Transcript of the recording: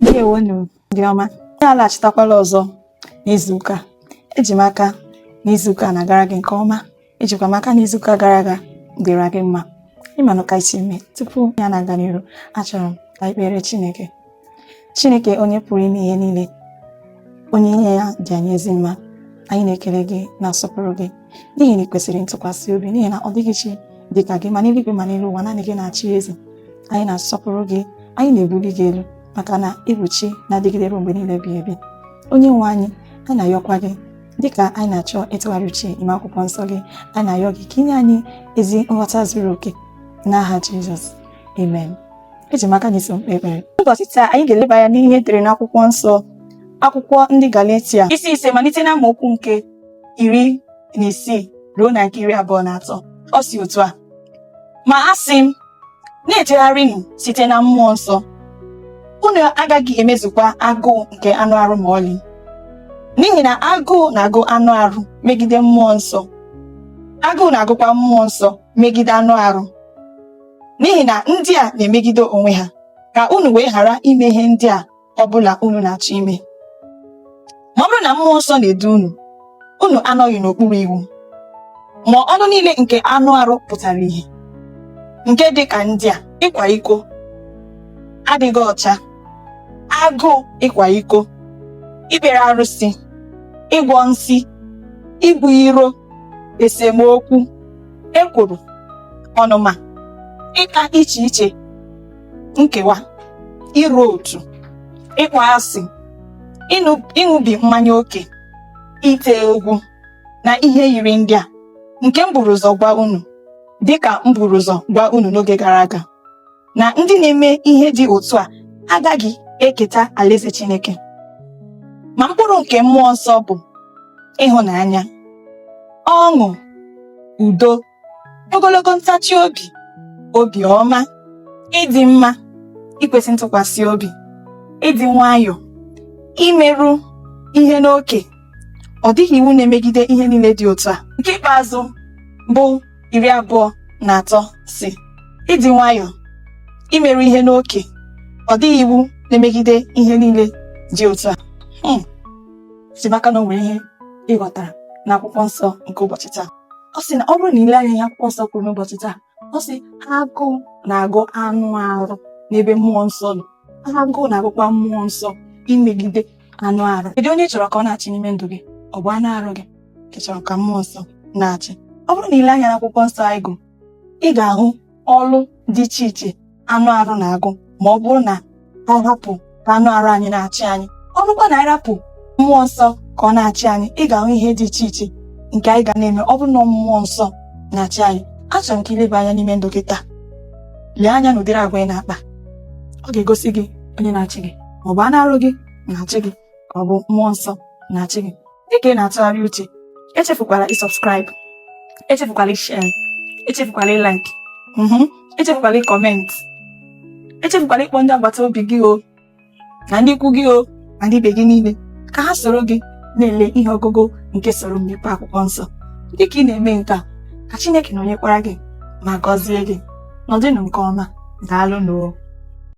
ndewonu ndị ọma anyị alachitakwala ọzọ n'izuụka eji m aka n'izuụka na-agara gị nke ọma ejikwa m aka n'izuụka gara aga dịra gị mma ịmanụ ka esi eme tupu anyị na-aga n'iru achọrọ m ka anyị kpere Chineke Chineke onye pụrụ ime ihe niile onye ihe ya dị anyị ezi mma anyị na-ekele gị na-asọpụrụ gị n'ihi na ị kwesịrị ntụkwasị obi n'ihi na ọ dịghị chi dị ka gị ma n'eluigwe ma n'elu ụwa naanị gị na-achị eze anyị na-asọpụrụ gị anyị na-ebuli gị elu maka na ịbụ chi na-adịgide ruo mgbe niile ebighị ebi onye nwe anyị anyị na-ayọkwa gị dịka anyị na-achọ ịtụgharị uche ime akwụkwọ nsọ gị anyị na-ayọ gị ka inye anyị ezi nghọta zuru oke n'aha Jizọs amen eji m aka na i so m kpee ekpere ụbọchị taa anyị ga-eleba anya n'ihe edere n'akwụkwọ nsọ akwụkwọ ndị Galatia isi ise malite na amaokwu nke iri na isii ruo na nke iri abụọ na atọ ọ sị otu a ma a sị m na-ejegharịnụ site na mmụọ nsọ unu agaghị emezukwa agụụ nke anụ arụ ma ọlị n'ihi na agụụ na-agụ anụ arụ megide mmụọ nsọ agụụ na-agụkwa mmụọ nsọ megide anụ arụ n'ihi na ndị a na-emegide onwe ha ka unu wee ghara ime ihe ndị a ọ bụla unu na-achọ ime ma ọ bụrụ na mmụọ nsọ na-edu unu unu anọghị n'okpuru iwu ma ọlụ niile nke anụ arụ pụtara ihe nke dị ka ndị a ịkwa iko adịghị ọcha agụụ ịkwa iko ikpere arụsị ịgwọ nsi ibu iro esemokwu ekworo ọnụma ịkpa iche iche nkewa ịrọ otu ịkpọ asị ịṅụbi mmanya oke ite egwu na ihe yiri ndị a nke m buru ụzọ gwa unu dịka m buru ụzọ gwa unu n'oge gara aga na ndị na-eme ihe dị otu a agaghị eketa alaeze Chineke ma mkpụrụ nke mmụọ nsọ bụ ịhụnanya ọṅụ udo ogologo ntachi obi obi ọma ịdị mma ikwesị ntụkwasị obi ịdị nwayọọ imeru ihe n'oke ọ dịghị iwu na-emegide ihe niile dị otu a nke ikpeazụ bụ iri abụọ na atọ sị ịdị nwayọọ imeru ihe n'oke ọ dịghị iwu na-emegide ihe niile dị otu a hmm eji m aka na o nwere ihe ịghọtara n'akwụkwọ nsọ nke ụbọchị taa ọ sị na ọ bụrụ na ile anya n'ihe akwụkwọ nsọ kwuru n'ụbọchị taa ọ sị agụụ na-agụ anụ arụ n'ebe mmụọ nsọ nọ agụụ na-agụkwa mmụọ nsọ imegide anụ arụ kedu onye ị chọrọ ka ọ na-achị n'ime ndụ gị ọ bụ anụ arụ gị ka ị chọrọ ka mmụọ nsọ na-achị ọ bụrụ na ile anya n'akwụkwọ nsọ anyị gụ ị ga-ahụ ọrụ dị iche iche anụ arụ na-agụ ma ọ bụrụ na anyị hapụ ka anụ arụ anyị na-achị anyị ọ bụrụkwa na anyị rapụ mmụọ nsọ ka ọ na-achị anyị ị ga-ahụ ihe dị iche iche nke anyị ga na-eme ọ bụrụ na mmụọ nsọ na-achị anyị achọrọ m ka i leba anya n'ime ndụ gị taa lee anya n'ụdịrị agwa ị na-akpa ọ ga-egosi gị onye na-achị gị ma ọ bụ anụ arụ gị na-achị gị ka ọ bụ mmụọ nsọ na-achị gị dịka ị na-atụgharị uche echefukwala ịsọbskraịbụ echefukwala ishe echefukwala ịlaik echefukwala ịkọmentị echefukwala ịkpọ ndị agbata obi gị o na ndị ikwu gị o na ndị ibe gị niile ka ha soro gị na-ele ihe ọgụgụ nke soro m mepee akwụkwọ nsọ dịka ị na-eme nke a ka Chineke nọnyekwara gị ma gọzie gị nọdịnụ nke ọma daalụnụ